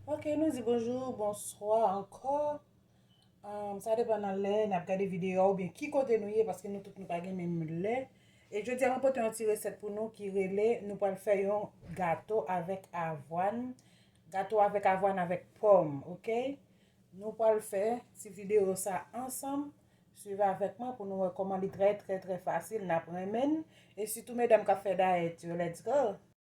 Ok nou di bonjour bonswa ankò sa depan nan lè nap gade video a oubyen ki kote nou ye paske nou tout nou pa gen menm lè e jodi a mwen pote yon ti resèt pou nou ki rele nou pral fè yon gato avèk avwàn gato avèk avwàn avèk pòm ok nou pral fè ti video sa ansanm swiv avèk mwen pou nou wè kòman li trè trè trè fasil nap renmenn e sitou medam kap fè dayèt yo let's go.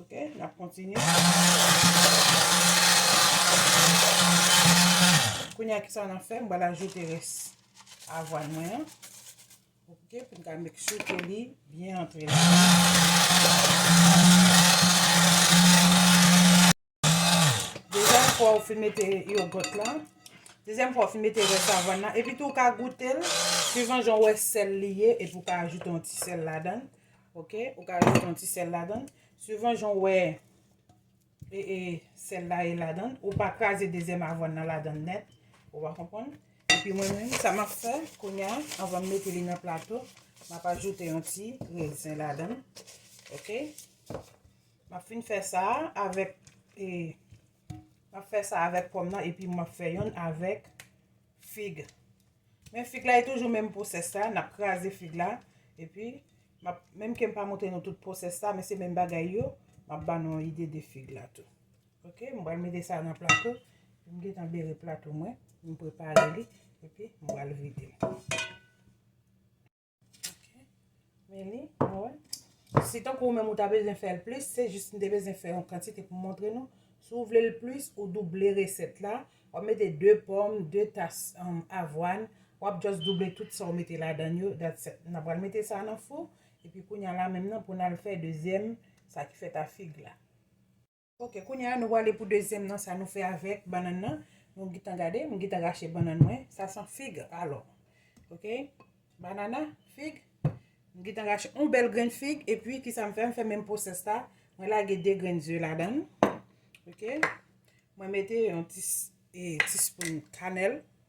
Ok, n ap kontinye. Kounye a ki sa n ap fè, m pral ajoute rès avwàn mwen an. Ok, pou m ka make sure ke li byen antre la. Dezyèm fwa ou fin mete yogot la. Dezyèm fwa ou fin mete rès avann nan. Epi tou ou ka goute l. Suivan jan ou wè sèl li ye. Epi ou ka ajoute yon ti sèl ladan. Ok. Ou ka ajoute yon ti sèl ladan. Suivan jan ou wè sèl la ye ladan. Ou pa kraze dezyèm avann nan ladan nèt. Ou va konpon. Epi mwen menm sa map fè. Kounya avan m mete li nan plato. Map ajoute yon ti rèzin ladan. Ok. Map fin fè sa avèk e map fè sa avèk pòm nan epi map fè yonn avèk fig. Men fig la e toujou menm pwosès la, nap kraze fig la epi map menm kem pa montre nou tout pwosès la men se menm bagay yo, map ba nou yon ide de fig la tou. Ok m pral mete sa nan plato, m gentan bere plato mwen, m prepare li epi m pral vide l. Men li, nou wè. Si tankou ou menm ou ta bezwen fè l plis, se jis m te bezwen fè yon kantite pou m montre nou. Si w vle l plis, ou double resèt la. W ap mete 2 pòm, 2 tas avwàn. W ap just double tout sa w mete ladan l yo. That's it. N ap pral mete sa nan fou. Epi kounya la menm nan pou n al fè dezyèm sa ki fèt a fig la. Ok kounye a nou prale pou dezyèm nan sa nou fè avèk bannann nan nou gintan gade m gintan rache bannann mwen sa son fig alò ok banana fig m gintan rache yon bèl grenn fig epi kisa m fè m fè menm pwosès la mwen lage 2 grenn ze ladann ok mwen mete yon ti ti spoun kanèl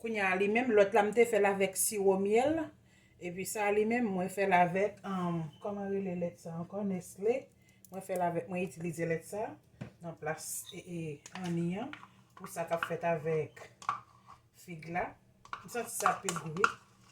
Kounya a li menm lòt la m te fèl avèk siwo myèl epi sa a li menm mwen fèl avèk kòman rele lèt sa ankò nestle mwen fèl avèk mwen itilize lèt sa nan plas anni an pou sa kap fèt avèk fig la m santi sa pi gou wi.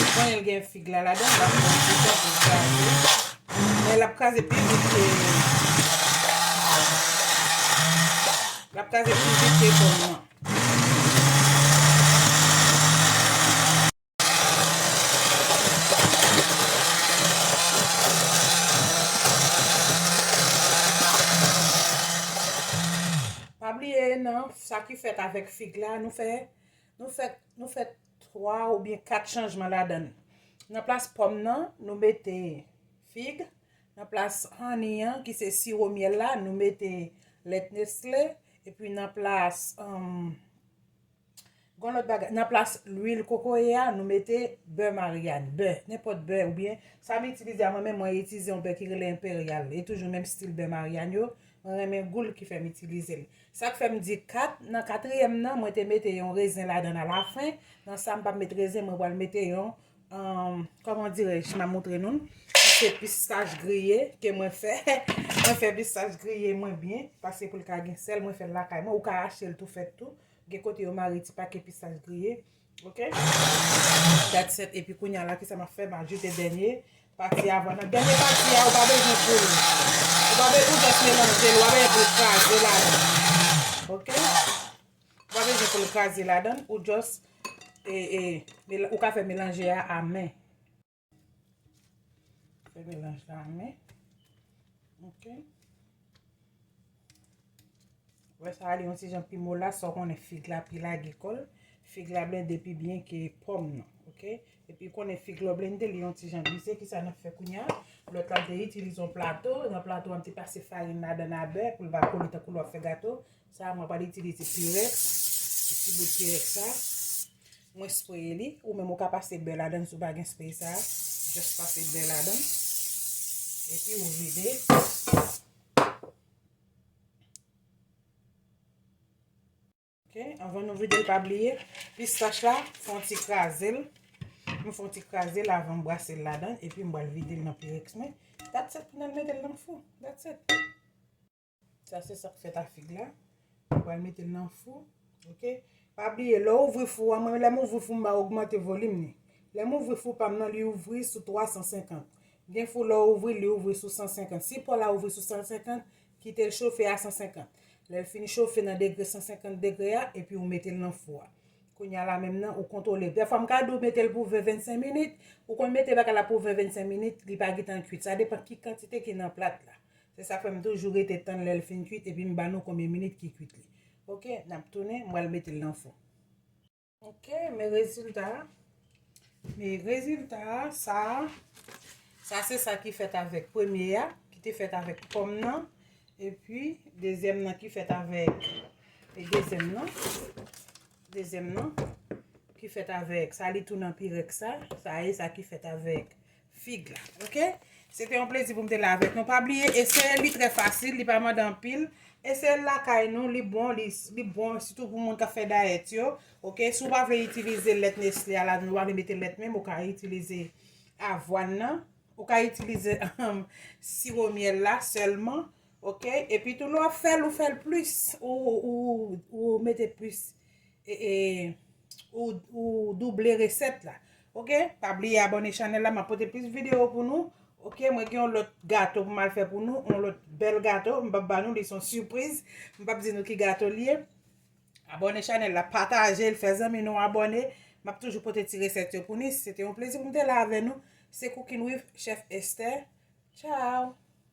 Mwen konnen l gen fig la ladan l. Lap pran ti tan pou l kraze. Men lap kraze pi vit ke. Lap kraze pi vit ke pòm nan. Pa bliye nan sa ki fèt avèk fig la, nou fè, nou fè, nou fè 3 oubyen 4 chanjman ladan li. Nan plas pòm nan, nou mete fig. Nan plas honey an, ki se siwo myèl la, nou mete lèt Nestlé. Epi nan plas, um, Gon lòt bagay, nan plas lwil kokoye a, nou mete bè Maryane, bè, nenpòt bè oubyen, sa m itilize a mwen menm mwen itize yon bè ki rele Imperial, e toujou menm stil bè Maryane yo, mwen renmen gou l ki fè m itilize l. Sa k fè m di 4, nan katriyèm nan mwen te mete yon rezen ladan l alafen, nan sa m pa met rezen mwen pral mete yon, kòman dirèj, m ap montre nou l, se pistach griye ke mwen fè, mwen fè pistach griye mwen byen, paske pou l ka gen sèl mwen fè l lakay mwen, ou ka achte l tou fèt tou, Gen kote yo mare ti pake pistaj griye. Ok. Dat 7 epi kounye a la ki sa map fè ma joute dènye pati avwa nan. Dènye pati a ou pa bezwen poul. Ou pa bezwen jès melanje l. Ou pa bezwen poul kraze la dan. Ok. Ou pa bezwen poul kraze la dan. Ou jès e e ou ka fè melanje a a men. Fè melanj la men. Ok. Wè sa li yon ti jan pi mola sa konen fig la pi lage kol. Fig la blende pi byen ke pom nan. Ok. E pi konen fig la blende li yon ti jan glise ki sa nan fè kounya. Lò tap de itilize yon plato. Yon plato an ti pase farin la dan a bè pou l pa kole tankou lò fè gato. Sa mwen pral itilize pirex, yon ti bout pirex sa. Mwen spraye li, ou menm ou ka pase bè ladan si w pa gen spray sa. Just pase bè ladan. Epi ou vide. Ok, anvan nou vide l pa bliye, pistach la, fon ti kraze l. Mwen fon ti kraze l avan m brase l ladan, epi m pral vide l nan pirex mwen. That's it, m pral mete l nan fou. That's it. Sa se sak fèt a fig la. Mwen pral metel nan fou. Ok. Pa bliye lè w ouvri fou a, mwen lè m ouvri fou m ba ogmante volim li. Lè m ouvri fou pa m nan li ouvri sou 350. Gen fou lè w ouvri l li ouvri sou 150. Si pò la ouvri sou 150, kite l chofe a 150. Lè l fin chofe nan degre 150 degre a, epi ou metel nan fou a. Kounya la menm nan ou kontwole. Dèfwa m ka di w metel pou 20, 25 minit. Ou konn mete bagay la pou 20, 25 minit, li pa gentan kwit. Sa depan ki kantite ki nan plat la. Se sak fè m toujou rete tann lèl fin kwit epi m ba nou konbyen minit ki kwit li. Ok nap tounen m pral metel nan fou. Ok men rezilta a. Men rezilta a sa a. Sa se sa ki fèt avèk premye a ki te fèt avèk pòm nan epi dezyèm nan ki fèt avèk e dezyèm nan dezyèm nan ki fèt avèk sa li tou nan pirèks sa sa e sa ki fèt avèk fig la ok se te yon plezi pou m te la avèk nou pa bliye eseye li trè fasil li pa mande anpil eseye l lakay nou li bon li bon sitou pou moun k ap fè dayèt yo ok si w pa vle itilize lèt nesle a ladan l ou pa vle mete lèt menm ou ka itilize avwàn nan ou ka itilize siwo myèl la sèlman ok epi tou lè w ap fè l ou fè l plis ou mete plis ou double resèt la ok pa bliye abone chanèl la map pote plis video pou nou ok mwen gen yon lòt gato pou mal fè pou nou yon lòt bèl gato m pap ba nou li son sipriz m pap di nou ki gato li ye abone chanèl la patajel fè zanmi nou abone map toujou pote ti resèt yo pou ni se te yon plezi pou m te la avè nou se cooking with chef Esther chow.